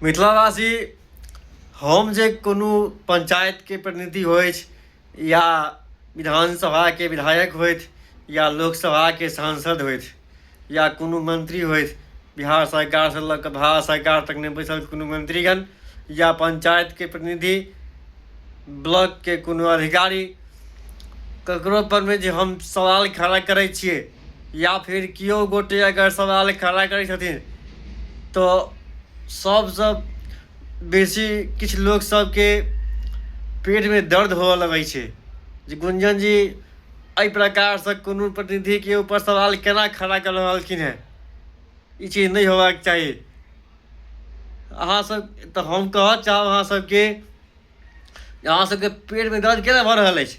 मिथिलावासी हम जे कोनो पञ्चायतके प्रतिनिधि होथि या विधानसभाके विधायक होथि या लोकसभाके सांसद होथि या कोनो मन्त्री होथि बिहार सरकारसँ लऽ कऽ भारत सरकार तकमे बैसल कोनो मन्त्रीगण या पञ्चायतके प्रतिनिधि ब्लॉकके कोनो अधिकारी ककरोपरमे जे हम सवाल खड़ा करै छिए या फिर केओ गोटे अगर सवाल खड़ा करै छथिन तऽ सबसँ बेसी किछु लोक सबके पेटमे दर्द होअ लगै छै जे गुंजन जी एहि प्रकारसँ कोनो प्रतिनिधिके ऊपर सवाल केना खड़ा कऽ रहलखिन हेँ ई चीज नहि होयबाक चाही अहाँसभ तऽ हम कहय चाहब अहाँसभके अहाँ सबके पेट में दर्द केना भऽ रहल अछि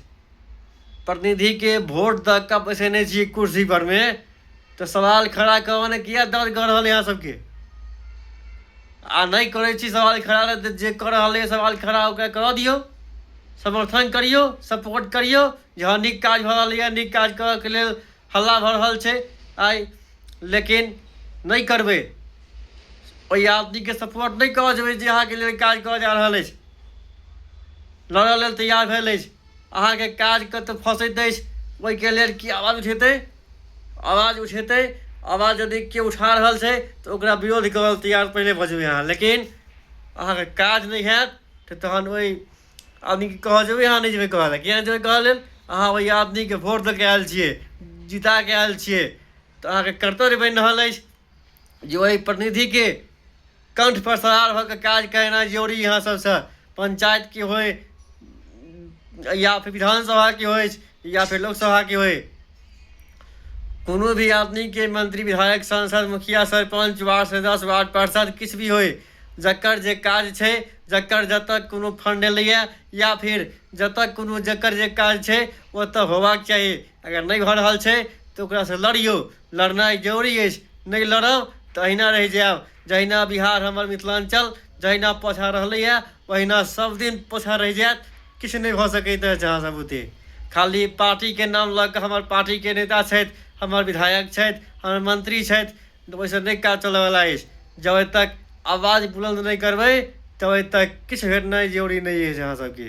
प्रतिनिधि के वोट द के बैसेने छी कुर्सी पर में तऽ सवाल खड़ा करऽ ने किया दर्द कर रहल अहाँ सबके आ नहि करै छी सवाल खड़ा तऽ जे कर रहल है सवाल खड़ा ओकरा करऽ दियौ समर्थन करियौ सपोर्ट करियौ जे हँ नीक काज भऽ रहलैए नीक काज करऽके लेल हल्ला भऽ रहल छै आइ लेकिन नहि करबै ओहि आदमीके सपोर्ट नहि कऽ जेबै जे अहाँके लेल काज कऽ जा रहल अछि लड़ऽ लेल तैयार भेल अछि अहाँके काज कतऽ फँसैत अछि ओहिके लेल की आवाज उठेतै आवाज उठेतै आवाज यदि केओ उठा रहल छै तऽ ओकरा विरोध करल तैयार पहिले भऽ जेबै अहाँ लेकिन अहाँके काज नहि हैत तऽ तहन ओहि आदमीके कहऽ जेबै अहाँ नहि जेबै कहऽ लए किएक जेबै कहऽ लेल अहाँ ओहि आदमीके वोट दऽ कऽ आयल छियै जिता कऽ आयल छियै तऽ अहाँके कर्तव्य बनि रहल अछि जे ओहि प्रतिनिधिके कण्ठपर सवार भऽ कऽ काज करेनाइ जरूरी अहाँ सभसँ पञ्चायतके होय या फेर विधानसभाके होय या फेर लोकसभाके होय कोनो भी आदमीके मंत्री विधायक सांसद मुखिया सरपञ्च वार्ड सदस्य वार्ड पार्षद किछु भी होय जकर जे काज छै जकर जतऽ कोनो फंड एलैए या फिर जतऽ कोनो जकर जे काज छै ओतऽ होबाक चाही अगर नहि भऽ रहल छै तऽ ओकरासँ लड़ियौ लड़नाइ जरूरी अछि नहि लड़ब तऽ अहिना रहि जायब जहिना बिहार हमर मिथिलाञ्चल जहिना पाछाँ रहलैए ओहिना सब दिन पाछाँ रहि जायत किछु नहि भऽ सकैत अछि अहाँ सब बुते खाली पार्टीके नाम लऽ कऽ हमर पार्टीके नेता छथि हमर विधायक छथि हमर मंत्री छथि तऽ ओहिसँ नहि काज चलयवला अछि जाबे तक आवाज बुलन्द नहि करबै ताबे तक किछु भेनाइ जरूरी नहि अछि अहाँसभके